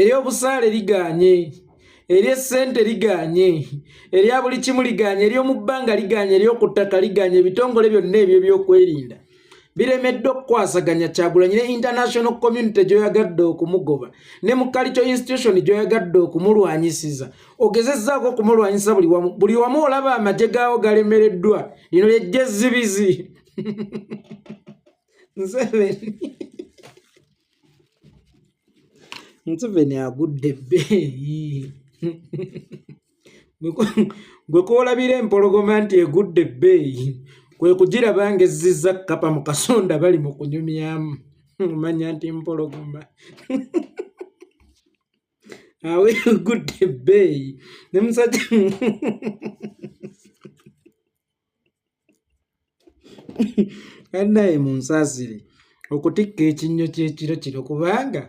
ery'obusaale ligaanye ery'essente ligaanye erya buli kimu ligaanye ery'omu bbanga ligaanye ery'oku ttaka ligaanye ebitongole byonna ebyo ebyokwerinda biremeddwa okukwasaganya kyagulanyi ne international community gyoyagadde okumugoba ne mu kalico institution gyoyagadde okumulwanyisiza ogezezzaako okumulwanyisa buli wamu buli wamu olaba amagye gaawo galemereddwa lino lyejja ezzibizi museveni agudde ebbeeyi gwe koolabira empologoma nti egudde ebbeeyi kwe kugiraba ng'ezziza kkapa mu kasonda bali mu kunyumyamu omanya nti mpologoma awe egudde ebbeeyi ne musajja annaye munsasire okutikka ekinnyo kyekiro kino kubanga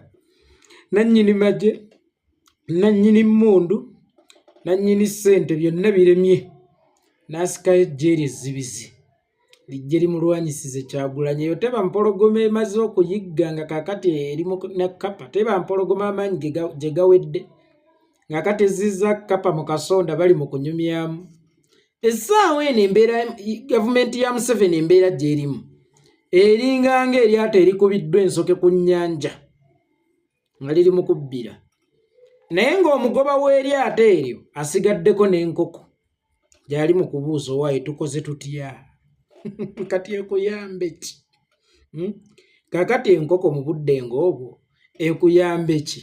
nannyini magye nannyini mmundu nannyini ssente byonna biremye n'asikayo ejje lye zzibizi lijje limulwanyisize kyagulanyi eyo teba mpologoma emaze okuyigga nga kakati eri na kapa teba mpologoma amaanyi gye gawedde nga kati ezizza kapa mu kasonda bali mu kunyumyamu essaawa eno embeera gavumenti ya museveni embeera gyerimu eringa nga eryato erikubiddwa ensoke ku nnyanja nga liri mu kubbira naye ng'omugoba w'eryato eryo asigaddeko n'enkoko gyali mu kubuuza owaaye tukoze tutya kati ekuyambe ki hmm? kakati enkoko mu budde ng'obwo ekuyambe ki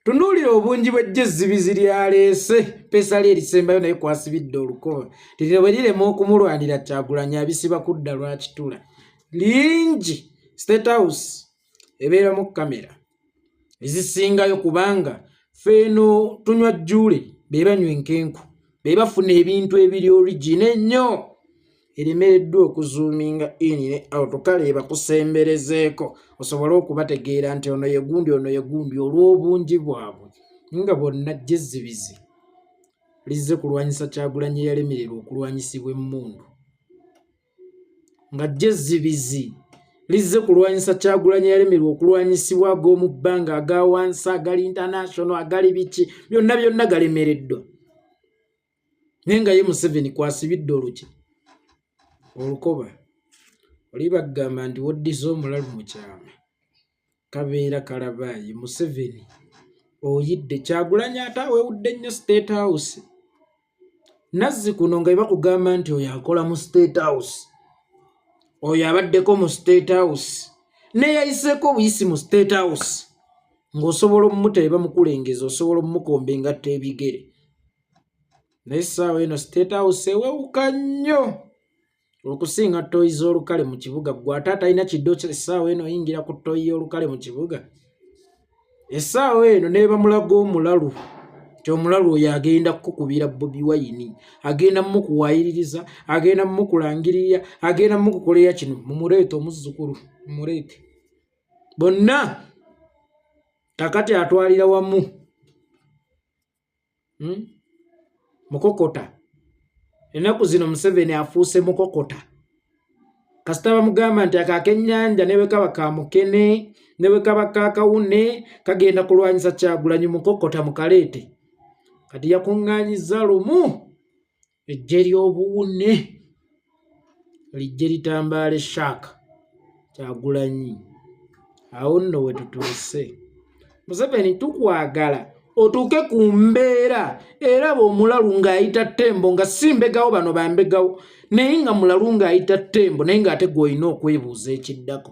tunuulira obungi bw'eggye ezzibizi lyaleese peesa lye erisembayo naye kwasibidde olukoba lirina bwe lirema okumulwanira kyagulanyi abisiba kudda lwakitula lingi state house ebeeramu kamera ezisingayo kubanga feeno tunywa jjuule be banywa enkenku be bafuna ebintu ebiri origina ennyo eremereddwa okuzuuminga in ne out kale ebakusemberezeeko osobole okubategeera nti ono yegundi ono yegundi olw'obungi bwabwe nga bonna jezzibizi lizze kulwanyisa kyagulanyi eyalemererwa okulwanyisibwa emmundu nga jezzibizi lizze kulwanyisa kyagulanyi eyalemererwa okulwanyisibwa ag'omu bbanga aga wansi agali international agali biki byonna byonna galemereddwa naye nga ye museveni kwasibidde oluki olukoba oli bagamba nti woddiza omulalu mu kyama kabeera kalabaayi museveni oyidde kyagulanya ate awewudde nnyo state house nazzi kuno nga ebakugamba nti oyo akola mu state house oyo abaddeko mu state house neyayiseeko obuyisi mu state house ng'osobola omumuta ebamukulengeza osobola omumukomba engatta ebigere naye saawa eno state house ewewuka nnyo okusinga toyi z'olukale mu kibuga gwe ate atalina kiddo essaawa eno oyingira ku toyi y'olukale mu kibuga essaawa eno nebamulaga omulalu ti omulalu oyo agenda kukukubira bobi wayini agenda mukuwayiririza agenda mukulangirira agenda mukukolera kino mumureete omuzzukulu mumureete bonna kakati atwalira wamu hmm? mukokota ennaku zino museveni afuuse mukokota kasita bamugamba nti ako akenyanja ne bwe kaba kamukene ne bwe kaba kakawune kagenda kulwanyisa kyagulanyi mukokota mukaleete kati yakuŋŋanyiza lumu eggye ly'obuwune lijje litambaale shark kyagulanyi awo nno we tutuuse museveni tukwagala otuuke ku mbeera era bwomulalu ng'ayita ttembo nga si mbegawo bano bambegawo naye nga mulalu ng'ayita ttembo naye ng'ate gw'olina okwebuuza ekiddako